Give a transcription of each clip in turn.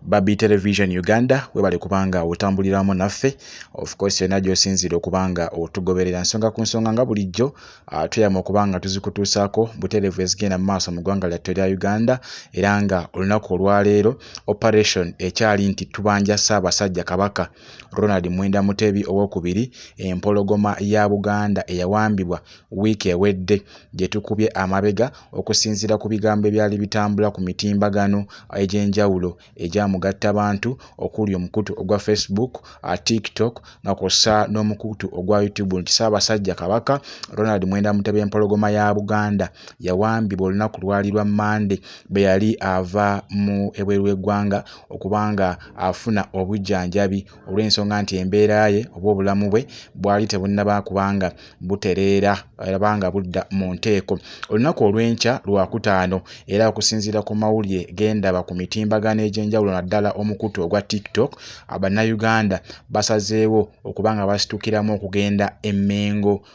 Babi Television Uganda webale kubanga otambuliramu naffe of course yonna gy'osinziira okubanga otugoberera nsonga ku nsonga nga bulijjo ah, tweyama okubanga tuzikutuusaako butereevu ezigenda mu maaso mu ggwanga lyattu erya Uganda era nga olunaku olwaleero operation ekyali nti tubanja Ssaabasajja Kabaka Ronald Mwenda Mutebi owokubiri empologoma ya Buganda eyawambibwa wiiki ewedde gye tukubye amabega okusinziira ku bigambo ebyali bitambula ku mitimbagano egy'enjawulo egya mugattabantu okuli omukutu ogwa Facebook, uh, TikTok nga kw'ossa n'omukutu ogwa YouTube nti Ssaabasajja Kabaka Ronald Mwenda Mutebi Empologoma ya Buganda yawambibwa olunaku lwali lwa Mmande bwe yali ava mu ebweru w'eggwanga okuba nga afuna obujjanjabi olw'ensonga nti embeera ye oba obulamu bwe bwali tebunnaba kuba nga butereera oba nga budda mu nteeko. Olunaku olw'enkya Lwakutaano era okusinziira ku mawulire ge ndaba ku mitimbagano egy'enjawulo naddala omukutu ogwa TikTok, Bannayuganda basazeewo okuba nga basitukiramu okugenda e Mmengo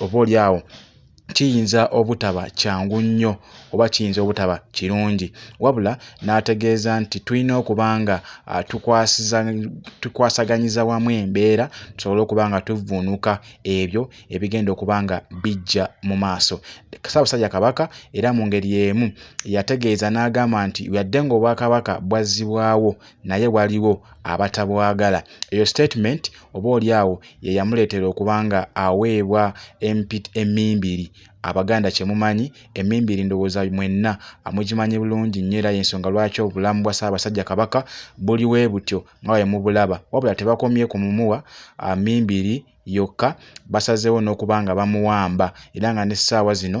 oba oli awo kiyinza obutaba kyangu nnyo oba kiyinza obutaba kirungi wabula n'ategeeza nti tulina okuba nga ah, tukwasaganyiza wamu embeera tusobole okuba nga tuvvuunuka ebyo ebigenda okuba nga bijja mu maaso ssaabasajja kabaka era mu ngeri emu yategeeza n'agamba nti yadde ng'obwakabaka bwazzibwawo naye waliwo abatabwagala eyo sitatimenti oboolyawo ye yamuleetera okuba nga aweebwa empi emmimbiri. Abaganda kye mumanyi, emmimbiri ndowooza mwenna mugimanyi bulungi nnyo era y'ensonga lwaki obulamu bwa Ssaabasajja Kabaka buli bwe butyo nga bwe mubulaba. Wabula tebakomye ku mumuwa mmimbiri yokka, basazeewo n'okuba nga bamuwamba era nga n'essaawa zino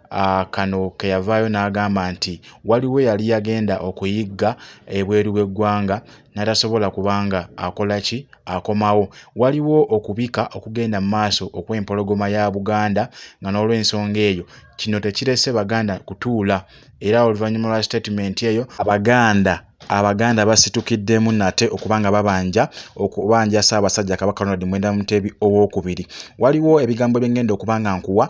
Uh, kano keyavaayo n'agamba nti waliwo yali yagenda okuyigga ebweru w'eggwanga n'atasobola kubanga akola ki akomawo waliwo okubika okugenda mu maaso okw'empologoma ya buganda nga n'olw'ensonga eyo kino tekirese baganda kutuula era oluvannyuma lwa sitatimenti eyo abaganda abaganda basitukiddemu nate okuba nga babanja okubanja ssaabasajja kabaka ronald mwenda mutebi owokubiri waliwo ebigambo byengenda okuba nga nkuwa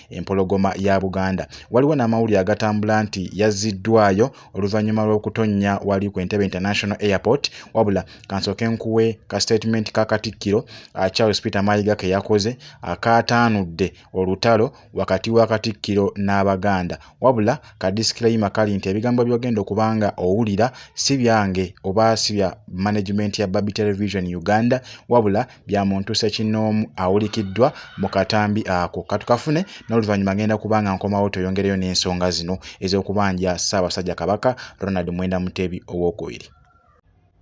Empologoma ya Buganda. Waliwo n'amawulire agatambula nti yazziddwaayo oluvannyuma lw'okutonnya wali ku Entebbe International Airport wabula kansooke nkuwe ka sitetimenti ka Katikkiro ah, Charles Peter Mayiga ke yakoze akaataanudde olutalo wakati wa Katikkiro n'Abaganda wabula ka disclaimer kali nti ebigambo by'ogenda okuba nga owulira si byange oba si bya management ya Babi Television Uganda wabula bya muntu ssekinnoomu awulikiddwa mu katambi ako. Katukafune n'oluvannyuma ngenda kuba nga nkomawo tweyongereyo n'ensonga zino ez'okubanja Ssaabasajja Kabaka Ronald Mwenda Mutebi ow'okubiri.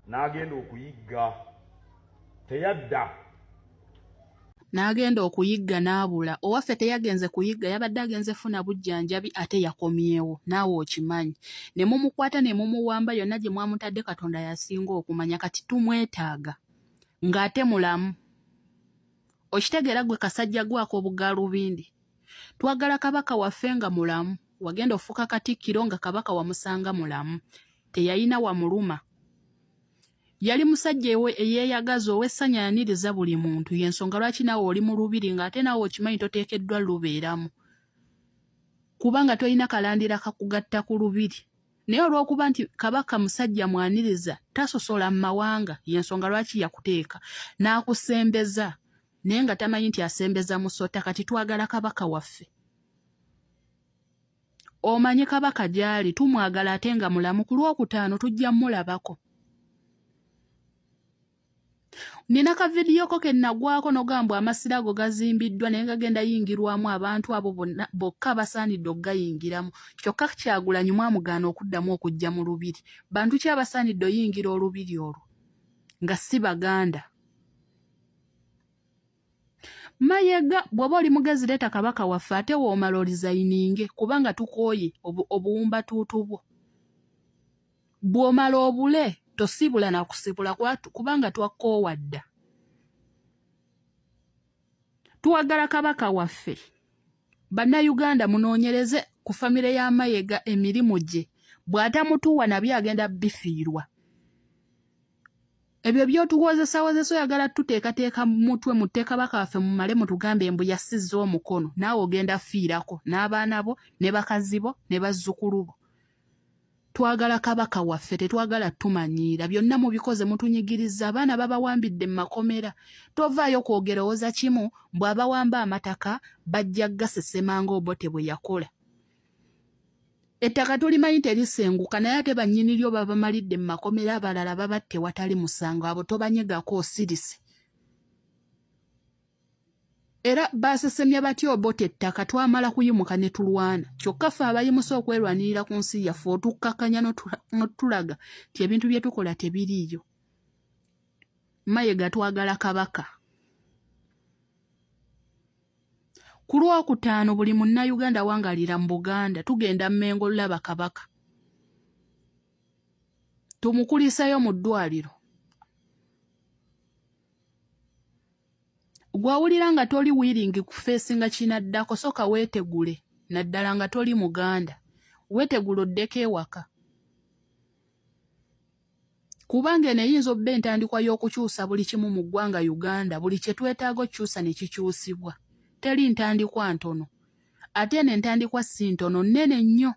N'agenda okuyigga teyadda. N'agenda okuyigga n'abula. Owaffe teyagenze kuyigga yabadde agenze funa bujjanjabi ate yakomyewo naawe okimanyi. Ne mumukwata ne mumuwamba yonna gye mwamutadde Katonda y'asinga okumanya kati tumwetaaga. ng'ate mulamu okitegeera gwe kasajja gwako obugalubindi twagala kabaka waffe nga mulamu wagenda ofuuka katikkiro nga kabaka wamusanga mulamu teyalina wamuluma yali musajja ewe eyeeyagaza ow'essanya yaniriza buli muntu y'ensonga lwaki naawe oli mu lubiri ng'ate naawe okimanyi toteekeddwa lubeeramu kubanga tolina kalandira kakugatta ku lubiri naye olwokuba nti kabaka musajja mwaniriza tasosola mu mawanga yensonga lwaki yakuteeka n'akusembeza naye nga tamanyi nti asembeza musota kati twagala kabaka waffe omanyi kabaka gyali tumwagala ate nga mulamu ku lwokutaano tujja mulabako nina ka vidiyo ko kennagwako nogamba amasira ago gazimbiddwa naye gagenda yingirwamu abantu abo bokka basaanidde okugayingiramu kyokka kyagulanyi mwamugaana okuddamu okujja mu lubiri bantu ki abasaanidde oyingira olubiri olwo nga si baganda mayega bw'oba oli mugezi leeta kabaka waffe ate woomala olizayininge kubanga tukooye obuwumbatuutu bwo bw'omala obule tosiibula na kusibula kubanga twakkoowa dda tuwagala kabaka waffe bannayuganda munoonyereze ku famire ya mayega emirimu gye bw'atamutuuwa nabyo agenda bifiirwa ebyo byotuwozesawozesa oyagala tuteekateeka mutwe mutte kabaka waffe mumale mutugambe mbu yasizza omukono naawe ogenda fiirako n'abaana bo ne bakazi bo ne bazzukulu bo twagala kabaka waffe tetwagala tumanyiira byonna mubikoze mutunyigiriza abaana babawambidde mu makomera tovaayo kwogera owoza kimu bw'abawamba amataka bajja gasesema ngaobote bwe yakola ettaka tulimanyi terisenguka naye ate bannyini lyo babamalidde mu makomera abalala babatte watali musango abo tobanyegako osirise era baasesemya batya obota ettaka twamala kuyimuka ne tulwana kyokka ffe abayimusa okwerwanirira ku nsi yaffe otukkakkanya notulaga nti ebintu bye tukola tebiriiyo mayega twagala kabaka ku lwokutaano buli munnayuganda wangalira mu buganda tugenda mmengo lulaba kabaka tumukulisayo mu ddwaliro gwawulira nga toli wiringi kufeesinga kinaddako soka weetegule naddala nga toli muganda weetegule oddeko ewaka kubanga eno eyinza obba entandikwa y'okukyusa buli kimu mu ggwanga uganda buli kye twetaaga okukyusa ne kikyusibwa teri ntandikwa ntono ate eno entandikwa si ntono nnene nnyo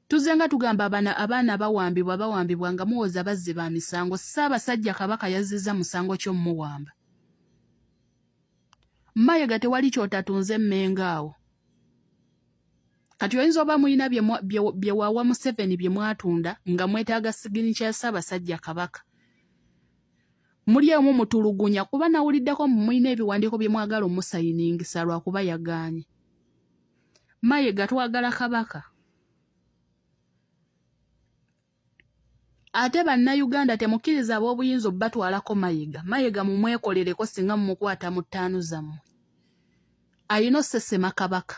Tuzze nga tugamba abana abaana bawambibwa bawambibwa nga muwoza bazzi ba misango Ssaabasajja Kabaka yazzizza musango kyo muwamba. Mayega tewali kyotatunze mmenga awo. Kati oyinza oba mulina bye wawa Museveni bye mwatunda nga mwetaaga sigini kya Ssaabasajja Kabaka. Muli omu mutulugunya kuba nawuliddeko mulina ebiwandiiko bye mwagala omusayiningisa lwakuba yagaanye. mayega twagala kabaka ate bannayuganda temukkiriza ab'obuyinza obubatwalako mayega mayega mumwekolereko singa mumukwata mu ttaanu zammwe alina osesema kabaka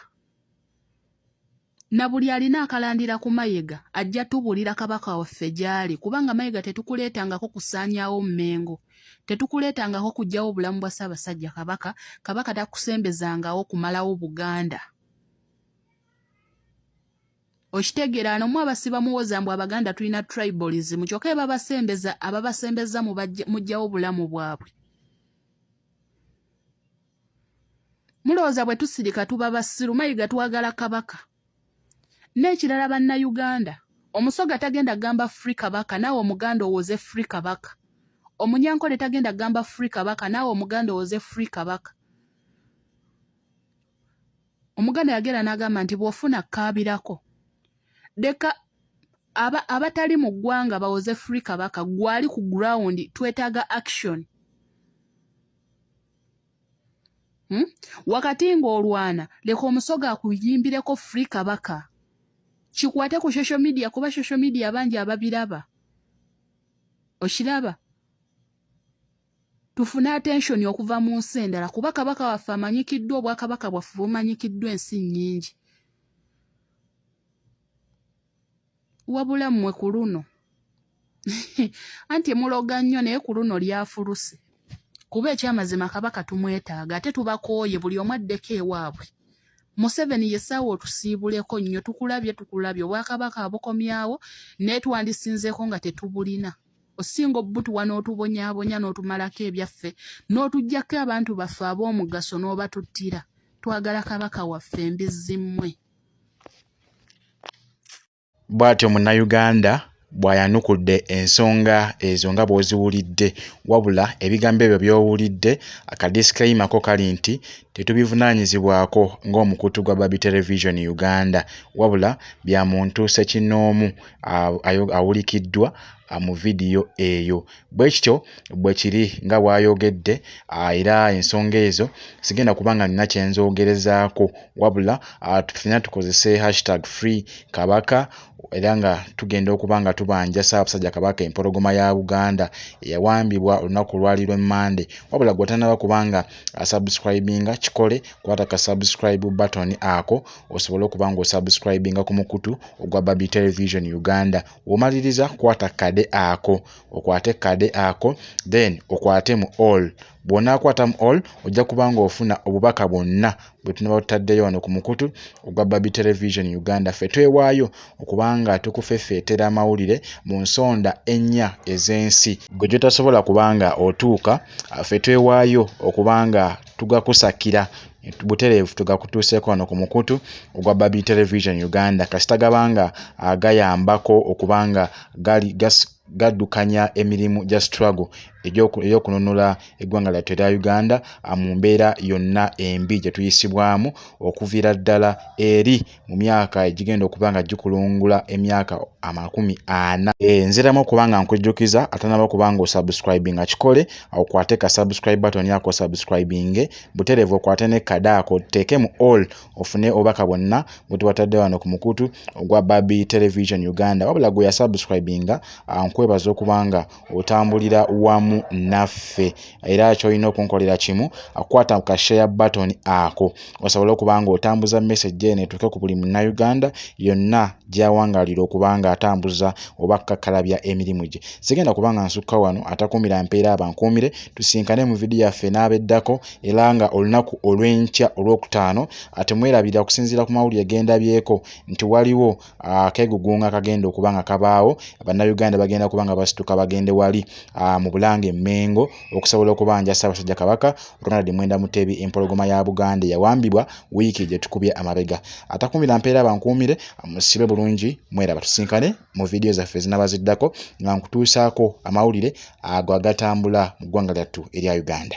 na buli alina akalandira ku mayega ajja tubulira kabaka waffe gy'ali kubanga mayega tetukuleetangako kusaanyaawo mmengo tetukuleetangako kujjawo bulamu bwa ssaabasajja kabaka kabaka takusembezangawo kumalawo buganda okitegeera anomu abasiba muwoza mbu abaganda tulina tribalism kyokka ebabasembeza ababasembeza mujjawo bulamu bwabwe mulowooza bwe tusirika tuba basiru mayiga twagala kabaka n'ekirala bannayuganda omusoga tagenda gamba free kabaka naawe omuganda owoze free kabaka omunyankole tagenda gamba free kabaka naawe omuganda owoze free kabaka omuganda yagera n'agamba nti bw'ofuna kkaabirako leka abatali mu ggwanga bawoze free kabaka gwali ku ground twetaaga action hmm? wakati ng'olwana leka omusoga akuyimbireko free kabaka kikwate ku social media kuba social media abangi ababiraba okiraba tufune attention okuva mu nsi endala kuba kabaka waffe amanyikiddwa obwakabaka bwaffe bumanyikiddwa ensi nnyingi wabula mmwe ku luno anti muloga nnyo naye ku luno lyafuluse kuba ekyamazima kabaka tumwetaaga ate tubakooye buli omu addeko ewaabwe museveni yesaawa otusiibuleko nnyo tukulabye tukulabye obwakabaka abukomyawo naye twandisinzeeko nga tetubulina osinga obutuwa n'otubonyabonya n'otumalako ebyaffe n'otugyako abantu baffe ab'omugaso n'obatuttira twagala kabaka waffe embizzi mmwe Bwatyo Munnayuganda bw'ayanukudde ensonga ezo nga bw'oziwulidde wabula ebigambo ebyo by'owulidde akadisikaima ko kali nti tetubivunaanyizibwako ng'omukutu gwa Babi Television Uganda wabula bya muntu ssekinnoomu awulikiddwa mu vidiyo eyo. Bwe kityo bwe kiri nga bw'ayogedde, era ensonga ezo sigenda kuba nga nnina kye nzoogerezaako, wabula ffenna tukozese hashtag FreeKabaka era nga tugenda okuba nga tubanja Ssaabasajja Kabaka empologoma ya Buganda eyawambibwa olunaku olwali lwe Mmande. Wabula gwe otannaba kuba nga asubscribinga kikole, kwata ka subscribe button ako osobole okuba ng'osubscribinga ku mukutu ogwa Babi Television Uganda. womaliriza kwata kade ako okwate kade ako then okwate mu all bwonaakwata mu all ojja kuba nga ofuna obubaka bwonna bwe tunaba tutaddeyo wano ku mukutu ogwa babi television uganda ffe twewaayo okubanga tukufefeetera amawulire mu nsonda ennya ez'ensi gwe gyotasobola kubanga otuuka ffe twewaayo okubanga tugakusakira butereevu tugakutuuseeko wano ku mukutu ogwa babi television uganda kasita gaba nga ah, gayambako okuba nga gaddukanya emirimu gya struggle ey'okununula eggwanga lyattu erya uganda ah, mu mbeera yonna embi gye tuyisibwamu okuviira ddala eri mu myaka egigenda okuba nga gikulungula emyaka amakumi ana eh, nziramu okuba nga nkujjukiza atanaba okuba nga osubscribinga kikole okwate ka subscribe button yako subscribinge buterevu okwate ne kada ako teeke mu all ofune obubaka bwonna bwetubatadde wano ku mukutu ogwa babi television uganda wabula gwe yasubscribinga ah, nkwebaza okuba nga otambulira wamu naffe era kyolina okunkolera kimu akukwata ku kashare button ako osobole okuba nga otambuza message eno etuuke ku buli munnauganda yonna gyawangalira okuba nga atambuza oba kukakkalabya emirimu gye sigenda kuba nga nsukka wano atakuumira mpeera abankuumire tusinkane mu vidiyo yaffe n'abeddako era nga olunaku olw'enkya olwokutaano atemwerabira okusinziira ku mawulire gendabyeko nti waliwo akegugunga akagenda okuba nga kabaawo bannayuganda bagenda kuba nga basituka bagende wali mu bulanga emmengo okusobola okubanja ssaabasajja kabaka ronald mwenda mutebi empologoma ya buganda eyawambibwa wiiki gyetukubye amabega atakumira mpeera bankuumire musibe bulungi mwera batusinkane mu vidiyo zaffe zinaba ziddako nga nkutuusaako amawulire ago agatambula mu ggwanga lyattu erya uganda